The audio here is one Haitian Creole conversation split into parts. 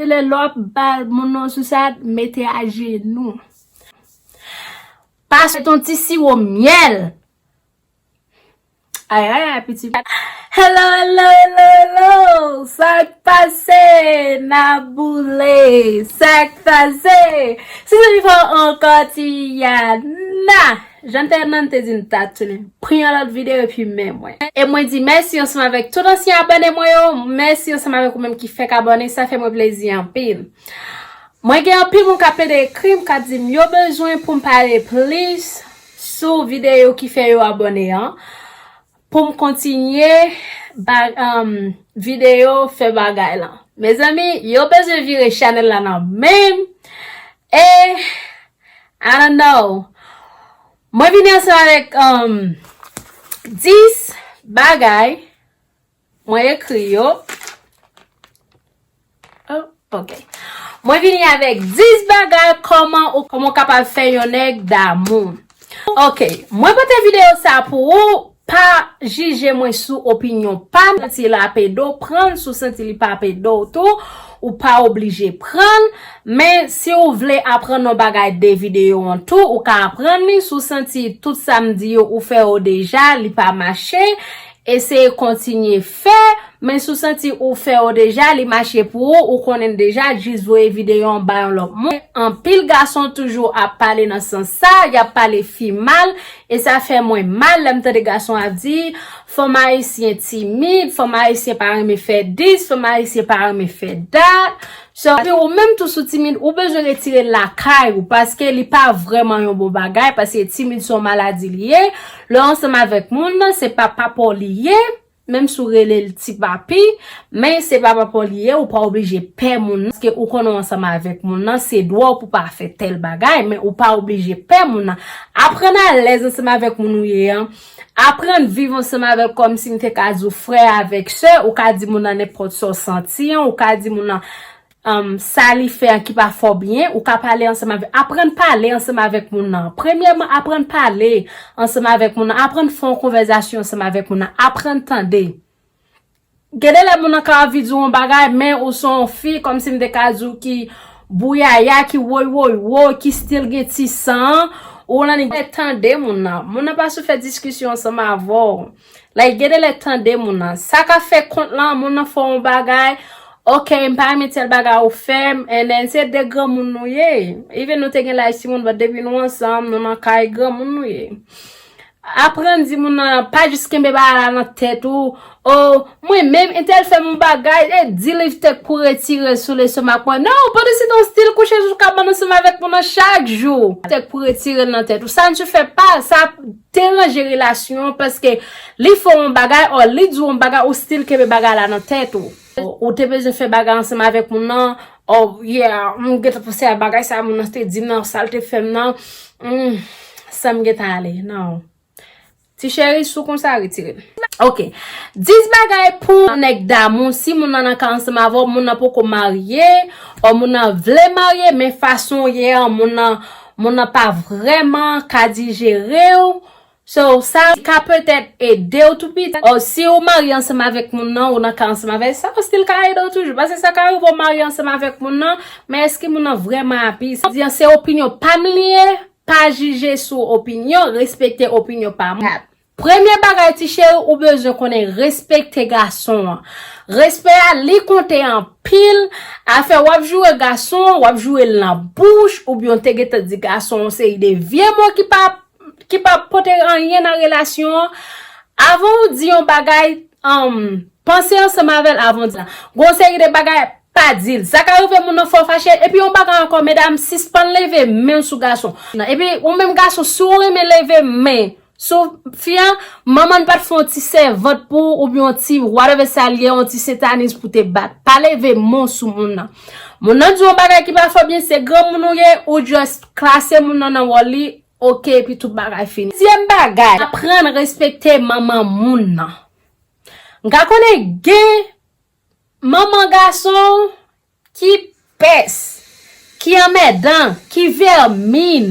Se lè lè w ap ba moun nan sousad, mete ajenou. Pase ton ti siwo myèl. Ay ay ay piti. Hello hello hello hello Sa k pase N a boule Sa k pase Se zanmi pa w ankò Tiyana. Jan Tayman te di m ta tounen. Pran yon lòt video epi men mwen. E mwen di mèsi ansanm avèk tout ansyen abòne mwen yo, mèsi ansanm avèk ou menm ki fèk abòne, sa fè mwen plezi anpil. Mwen gen anpil moun kap plede ekri m kap di m yo bezwen pou m pale plis sou video ki fè yo abòne an, Poum kontinye bag video fè bagay lan. Mezanmi yo bezwen vire chanel la nan menm e I don't know mwen vini ansanm avèk 10 bagay mwen ekri yo Ok Mwen vini avèk 10 bagay kòman ou kòman ou kapab fè yon nèg damou Ok Mwen pote videyo sa pou ou Pa jije mwen sou opinyon pa m Santi l ape do w pran l Si w santi li pa ape do w tou Ou pa oblije pran l Men si w vle aprann yon bagay de videyo an tou Ou ka aprann li Si w santi tout sa m di yo ou fè yo deja Li pa mache Eseye kontinye fè, men si w santi ou fè yo deja, li mache pou ou, ou konnen l deja, jis voye videyo an ba yon lòt moun. Anpil gason toujou ap pale nan sans sa, y ap pale fi mal, e sa fè mwen mal lè m tande gason ap di, fanm ayisyen timid, fanm ayisyen pa renmen fè dis, fanm ayisyen pa renmen fè dat, Shervie ou menm tou sou timid ou bezwen retirel lakay ou paske li pa vrèman yon bon bagay paske timid son maladi li ye lèw ansanm avèk moun se pa papaw li ye menm si ou relel ti papi men se pa papaw li ye ou pa oblije pè moun nan paske ou konnen ou ansanm avèk moun nan se dwaw pou pa fè tèl bagay men ou pa oblije pè moun nan aprann alèz ansanm avèk moun ou ye an. Aprann viv ansanm avèl kòmsi m te ka di w frè avèk sè, ou ka di moun nan nenpòt sa w santi an, ou ka di moun nan sa li fè an ki pa fè w byen, ou ka pale ansanm avèl, aprann pale ansanm avèk moun nan. Premyèman aprann pale ansanm avèk moun nan, aprann fè yon konvèzasyon ansanm avèk moun nan, aprann tande. Gen de lè moun nan ka anvi di w yon bagay men ou se yon fi kòmsi m te ka di w ki bouyaya, ki woywoywo, ki still gen ti san an, ou annik gen de lè tande moun nan, moun nan pa sou fè diskisyon ansanm avè w, like gen de lè tande moun nan, sa ka fè kont lan moun nan fè w yon bagay, ok m pa renmen tèl bagay ou fè m, and then se de granmoun nou ye, even nou te gen laj timoun but depi nou ansanm nou nan kay granmoun nou ye. Aprann di moun nan, pa jis kenbe bagay la nan tèt ou, Oh, mwen menm, entèl fè m yon bagay, e di li ftek pou retire l sou lestomak mwen. Non, pandan se tan w stil kouche sou kabann ansanm avèk moun nan chak jou. Ftek pou retire l nan tèt ou. Sa n tu fè pa, sa ap deranje relasyon an paske li fè w yon bagay, or li di w yon bagay, ou stil kenbe bagay la nan tèt ou. Ou te bezwen fè bagay ansanm avèk moun nan, oh yeah, m gentan panse a bagay sa moun nan te di m nan, sa l te fè m nan, humm, san m gentan ale nan. Ti cheri, si w konn sa, retire l. Ok. 10 bagay pou yon nèg damou si moun nan nan ka ansanm avè w, moun nan poko marye, oh moun nan vle marye men fason w ye an moun nan pa vrèman ka dijere w, So sa ka petèt edew tou pita or siw marye ansanm avèk moun nan ou nan ka ansanm avèl sa still ka edew toujou pase sa ka rivew marye ansanm avèk moun nan men eske moun nan vrèman api sa di an se opinyon pam li ye pa jije sou opinyon respekte opinyon pa moun premye bagay ti cheri ou bezwen konnen respekte gason an respè a li konte anpil afè wap joure gason an wap jourel nan bouch oubyen ou te gentan di gason yon seri de vye mo ki pa ki pa pote anyen nan relasyon an, avan ou di yon bagay, panse ansanm avè l avan w di sa. Gen yon seri de bagay, pa di l. Sa ka rive moun nan fè w fache. Epi yon bagay ankò, medam, sispann leve men sou gason. Epi ou menm gason, si w renmen leve men sou fi a, manman n pa t fè yon ti sèvant pou ou oubyen yon ti whatever sa l ye, yon ti sentaniz pou te bat. Pa leve men w sou moun nan. Moun nan di yon bagay ki pa fo byen se granmoun ou ye ou just klase moun nan nan wòl li ok epi tout bagay fini. Dezyèm bagay aprann respekte manman moun nan. M ka konnen gen manman gason ki pès, ki anmèdan, ki vèmin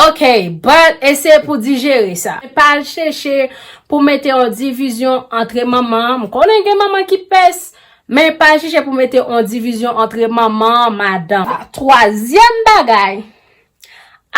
ok but eseye pou dijere sa. E pa al cheche pou mete yon divizyon antre manman, m konnen gen manman ki pès. Men pa chèche pou mete yon divizyon antre manman, madanm. Twazyèm bagay,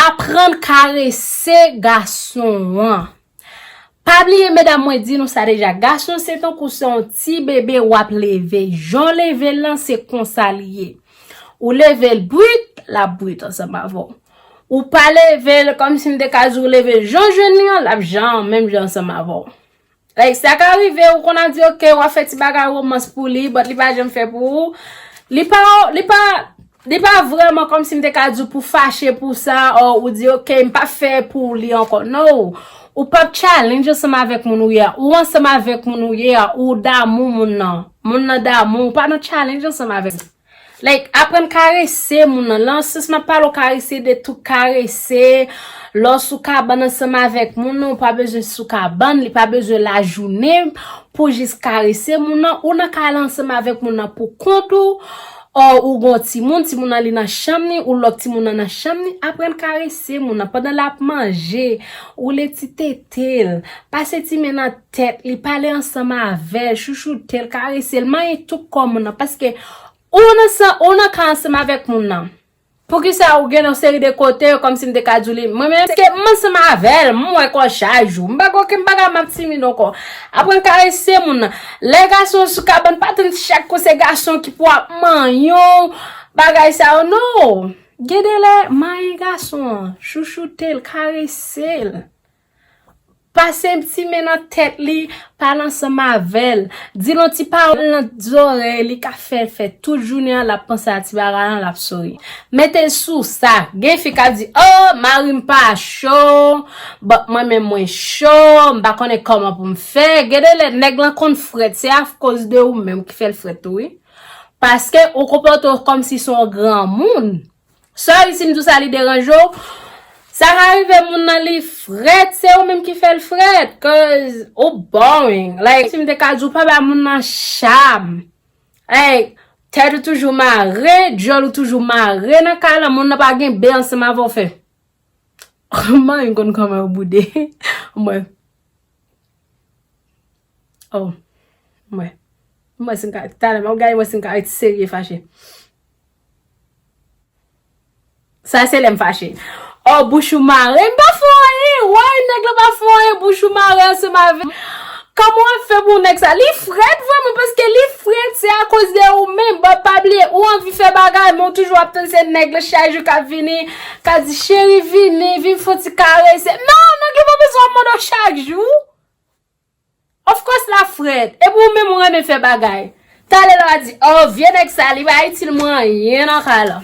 aprann karese gason an. Pa bliye medam mwen di nou sa deja, gason se tankou se yon ti bebe w ap leve. Jan w leve l lan se konsa li ye. Ou leve l brit, l ap brit ansanm avè w. Ou pa leve l kòmsi m te ka di w leve l jan w jwenn li an, l ap jan an menm jan ansanm avè w. Like sa ka rive ou konn a di ok wap fè ti bagay romans pou li but li pa janm fè pou ou li pa li pa li pa vreman kom si m te ka di w pou fache pou sa or ou di ok m pa fè pou li anko no ou pap challenge ansanm avek moun ou ye a ou ansanm avek moun ou ye a ou damou moun nan moun nan damou ou pa nan challenge ansanm avek moun. Like aprann karese moun nan lan sans map pale ou karese de tou karese lè w sou kabann ansanm avèk moun nan ou pa bezwen sou kabann li pa bezwen lajounen pou jis karese moun nan ou nan kay la ansanm avèk moun nan pou kont ou or ou gon timoun timoun nan li nan chanm li ou lòk timoun nan nan chanm li aprann karese moun nan pandan lap manje woule ti tete l pase ti men nan tèt li, pale ansanm avè l, chouchoute l, karese l, manyen tout kò moun nan, paske ou nan ka ansanm avèk moun nan. Poukisa ou gen yon seri de kote, kòm si m te ka di w li, mwen menm, paske m ansanm avè l, m wè kò chak jou, m pa gen okenn bagay m ap timid ankò. Aprann karese moun nan. Lè gason sou kabann, pa tann chak kou se gason ki pou ap manyen w, bagay sa yo, no! Gen de lè, manyen gason an, chouchoute l, karese l. Pase yon ti men nan tèt li, pale ansanm avè l, di l yon ti pawòl nan zòrèy li k ap fè l fè tout jounen an l ap panse a ti bagay lan, l ap souri. Mete sou sa, gen fi k ap di, O, mari m pa cho, but mwen menm mwen cho, m pa konnen kòman pou m fè. Gen de lè nèg lan konn frèt, se akoz de ou menm ki fè l frèt tou wi. Paske ou konpòte w kòmsi se yon granmoun. Sorry sim diw sa li deranje w. Sa ka rive moun nan li frèt se ou menm ki fèl frèt cuz ou boring like sim te ka diw pa ba moun nan cham like tèt ou toujou mare dyòl ou toujou mare nan kay lan moun nan pa gen be ansanm avè w fè Ohh manyen konn kòman yo boude mwen Ohh mwen mwen si m ka talè map gade mwen si m ka ret serye fache. Sa se lèm fache. Ohh bouch ou mare m pa fè w anyen why nèg lan pa fè w anyen bouch ou mare ansanm avèm kòman wap fè pou nèg sa li frèt vrèman paske li frèt se akoz de ou menm bòt pa bliye ou anvi fè bagay men ou toujou ap tann se nèg lan chak jou kap vini ka di cheri vini vin fon ti karese nan nèg lan pa bezwen w mande w chak jou Of course la frèt. Epi ou menm ou renmen fè bagay. Talè lè wap di oh vye nèg sa li pa itil mwen anyen nan kay la.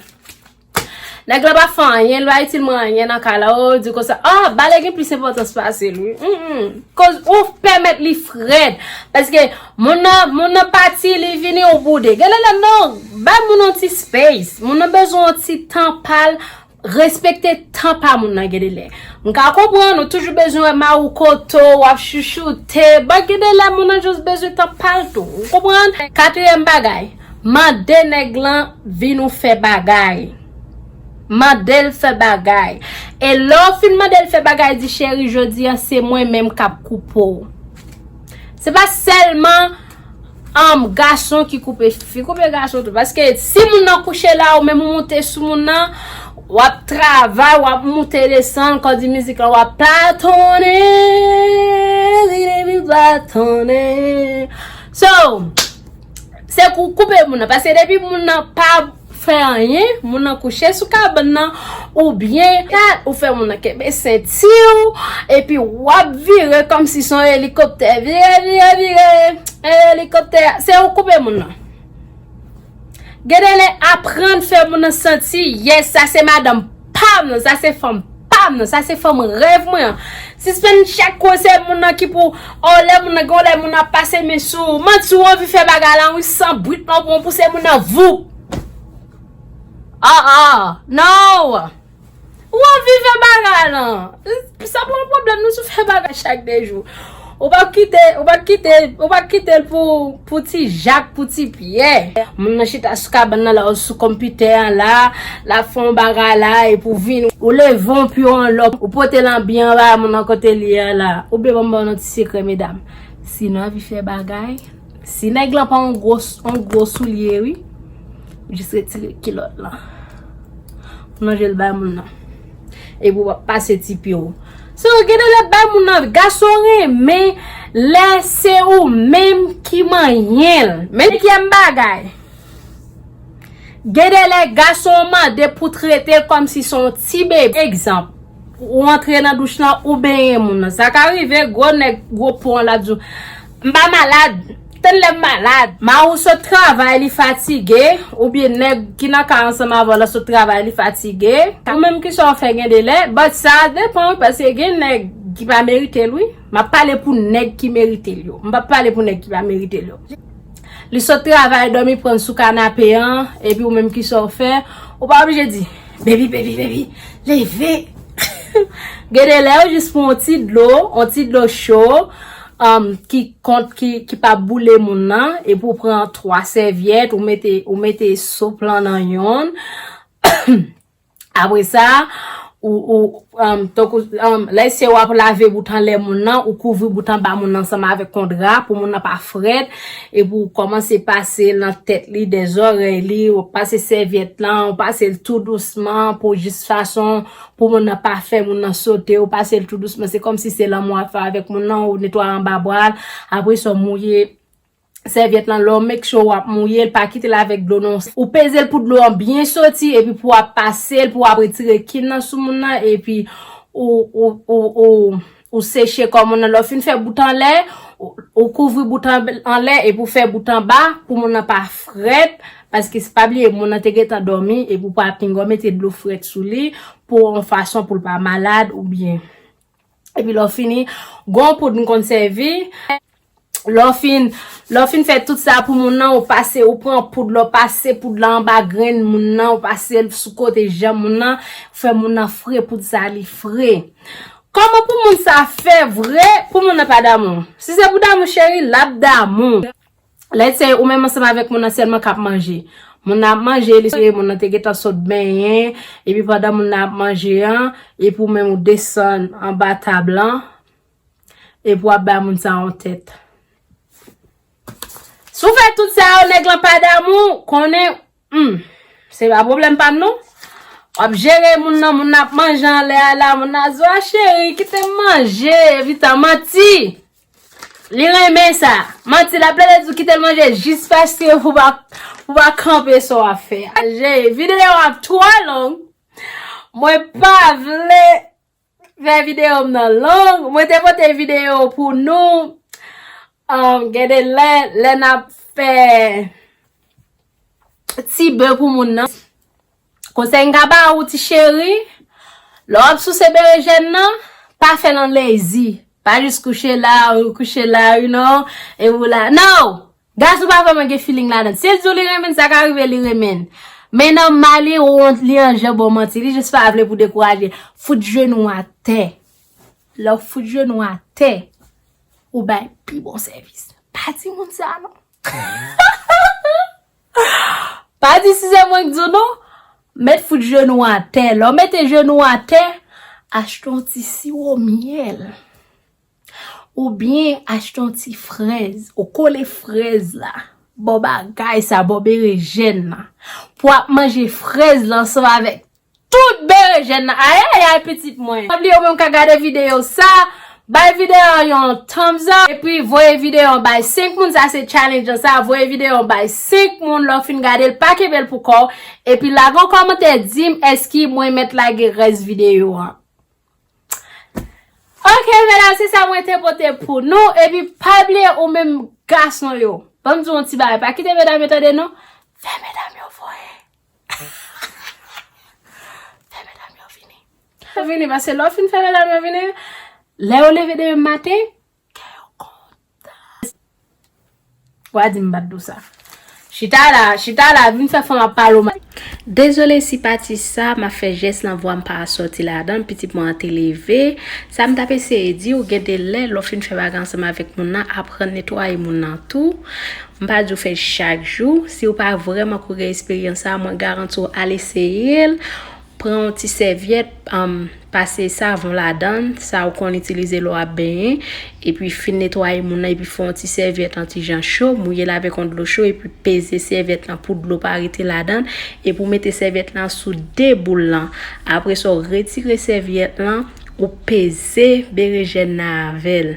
Nèg la pa fè anyen li pa itil mwen anyen nan kay la oh di konsa oh bale gen plis enpòtans pase l wi humm koz ou pèmèt li frèt paske moun nan moun nan pati li vini ou boude. Genlè lè non bay moun yon ti space moun nan bezwen yon ti tan pa l Respekte tan pa moun nan gendelè. M ka konprann ou toujou bezwen wè maroukoto, w ap chouchoute, but gendelè moun nan just bezwen tan pa l tou. Ou konprann? Katriyèm bagay, mande nèg lan vin ou fè bagay. Mande l fè bagay. E lè w fin mande l fè bagay, di cheri jodi an se mwen menm k ap koupe w. Se pa sèlman. Humm gason ki koupe fi koupe gason tou paske si moun nan kouche la ou menm ou moute sou moun nan wap travay wap moute desann kòw di mizik lan wap platonnen li vin vin platonnen so se kou koupe moun nan paske depi moun nan pa fè anyen, moun nan kouche sou kabann nan, oubyen. 4, ou fè moun nan kenbe senti w, epi w ap vire kòmsi se yon elikoptè, vire, vire, vire, e elikoptè a, se ou koupe moun nan. Gen de lè aprann fè moun nan santi, yes, sa se madanm. pam nan sa se fanm pam nan sa se fanm rèv mwen an sispann chak kou se moun nan ki pou oh lè moun nan gen yon lè moun nan ap pase men sou ou manti ou anvi fè bagay lan wi san brit lan ou pran pou se moun nan voup ah ah nan ou anvi fè bagay lan sa pa yon pwoblèm nou sou fè bagay chak de jou. Ou pa kite, ou pa kite, ou pa kite l pou, pou ti Jak, pou ti Pyè. Moun nan chita sou kabann nan la ou sou konpitè an la, l ap fè yon bagay la epi ou vini, ou leve yon pyo an lò, ou pote l anbi anba moun nan kote li an la. Oubyen ban m ba nou yon ti sekrè medam, si nou anvi fè bagay, si nèg lan pa yon gwo, yon gwo soulye wi, jis retire kilòt lan. Ou lonje l bay moun nan. Epi wap pase ti pye w. Se ou gen de lè bay moun nan. Gason renmen lè se ou menm ki manyen l. Senkyèm bagay. Gen de lè gason an mande pou trete l kòm si se yon ti bebe. Egzanp, ou antre nan douch lan, ou benyen moun nan. Sa ka rive gwo nèg gwo po an la di w, m pa malad. Tann lèm malad. Mariw sot travay li fatige oubyen nèg ki nan kay ansanm avèw la sot travay li fatige. Ou menm kisa w fè gen delè. But sa depan wi paske gen nèg ki pa merite l wi. Map pale pou nèg ki merite l yo. M pap pale pou nèg ki pa merite l yo. Li sot travay dòmi pran l sou kanape an epi ou menm kisa w fè. Ou pa oblije di Baby baby baby leve. Gen delè ou jis pran yon ti dlo, yon ti dlo cho. ki kont ki pa boule moun nan epi ou pran 3 sèvyèt ou mete ou mete soup lan nan yonn apre sa ou tankou lè se wap lave bout anlè moun nan ou kouvri bout anba moun nan ansanm avèk yon dra pou moun nan pa frèt epi ou kòmanse pase nan tèt li dè zòrèy li ou pase sèvyèt lan ou pase l tou dousman pou jis fason Pou moun nan pa fè moun nan sote, ou pase l tou dousman, se kòmsi se lanmou wap fè avèk moun nan, ou netwaye anba bra l, apre sa w mouye sèvyèt lan, lè w make sure wap mouye l, pa kite l avèk dlo non, ou peze l pou dlo an byen soti, epi pou wap pase l, pou wap retire kin nan sou moun nan, epi ou. Ou seche kò moun nan, lè w fin fè bout anlè, ou kouvri bout anlè epi ou fè bout anba pou moun nan pa frèt, paske pa bliye moun nan te gentan dòmi epi ou pa pinga w mete dlo frèt sou li pou yon fason pou l pa malad oubyen. Epi lè w fini, gon poud m konn sèvi, Lè w fin, lè w fin fè tout sa pou moun nan, ou pase, ou pran poud la, ou pase poud la anba grenn moun nan, ou pase l sou kote je moun nan, ou fè moun nan fre poud sa li fre. Kòman pou moun sa fè vre pou moun nan pa damou? Si se pou damou cheri, l ap damou. Lè se ou menm ansanm avèk moun nan sèlman k ap manje. Moun nan ap manje, li se moun nan te gentan sot benyen, epi pandan moun nan ap manje an, epi ou menm ou desann anba tab lan, Epi wap bay moun sa yon tèt. Si w fè tout sa yo nèg lan pa damou w, konnen humm se pa pwoblèm pa m non. Wap jere moun nan, moun nan ap manje anlè a la, moun nan ap di w a cheri kite m manje epitan manti li renmen sa. Manti lap plede di w kite l manje jis paske pou w pa kanpe sa w ap fè a. Videyo an ap twò long. Mwen pa vle. Fè video m nan long. Mwen te pote video pou nou. Am gen de lè lè nap fè ti bè pou moun nan. Konsèy m ka ba ou ti cheri, lè wap souse berejèn nan, pa fèl an lezi. Pa jis kouche la, ou kouche la, you know, e ou la. No! Gason pa vreman gen feeling ladann. Sil diw li renmenn sa ka rive li renmenn. Men nan mal li wont li anjan baw manti li jis pa vle pou dekouraje. Fout jenou atè. Lèw fout jenou atè ou bay pi bon sèvis. Pa di moun sa non. Pa di si se mwenk diw non. Met fout jenou atè. Lèw mete jenou atè achte yon ti siwo myèl. Ou byen achte yon ti frèz, ou kole frèz la bò bagay sa, bò berejèn nan, pou ap manje frèz la ansanm avèk tout berejèn nan. Ayayay pitit mwen! Pa bliye ou menm k ap gade videyo sa, bay videyo an yon thumbs up, epi voye videyo an bay 5 moun, sa se challenge an sa, voye videyo an bay 5 moun lè w fin gade l, pa kenbe l pou kò w, epi lage yon kòmantè di m èske mwen mèt lage rès videyo an. Ok medam se sa mwen te pote pou nou Epi pa bliye ou menm gason yo Banm di yon ti bagay pa kite medam yo tande non Fè medam yo voye Fè medam yo vini Fè medam yo vini Paske lè ou fin fè medam yo vini Lè yo leve demen maten Kè yo kontan. Wa di m bat do sa. Chita la, chita la, vin fè fanm ap pale w mal. Dezole si pati sa m ap fè jès lan vwa m pa sòti ladan l, pitit mwen an te leve. Sa m t ap eseye di w, gen de lè, lè w fin fè bagay ansanm avèk moun nan, aprann netwaye moun nan tou. M pa di w fè l chak jou. Si w pa vrèman kou gen esperyans sa a, mwen garanti w al eseye l. Pran yon ti sèvyèt, pase savon ladan, sa ou konn itilize lè w ap benyen, epi fin netwaye moun nan epi fè yon ti sèvyèt an ti jan cho, mouye l avèk yon dlo cho epi peze sèvyèt lan pou dlo pa rete ladan, epi ou mete sèvyèt lan sou de boul lan. Apre sa ou retire sèvyèt lan, ou peze berejèn nan avè l.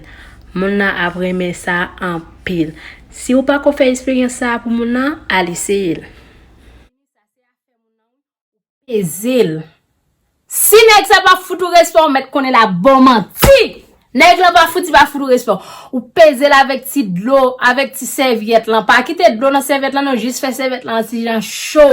Moun nan ap renmen sa anpil. Si ou pako fè esperyans sa a pou moun nan, al eseye l. Peze l. Si nèg sa pa fout ou respè ou mèt konnen l ap ba w manti. Nèg lan pa fouti pa fout ou respè. Ou peze l avèk ti dlo, avèk ti sèvyèt lan. Pa kite dlo nan sèvyèt lan non, jis fè sèvyèt lan an ti jan cho.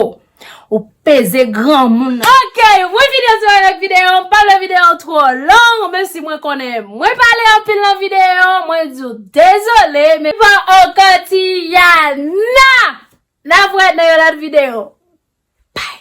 Ou peze granmoun nan. Ok, wi videyo sou wè nan videyo an. Pa vle videyo an twò long, menm si mwen konnen mwen pale anpil nan videyo an, mwen di w dezole men. Papa Okanti Yana! Nap wè nan yon lòt video. Bye!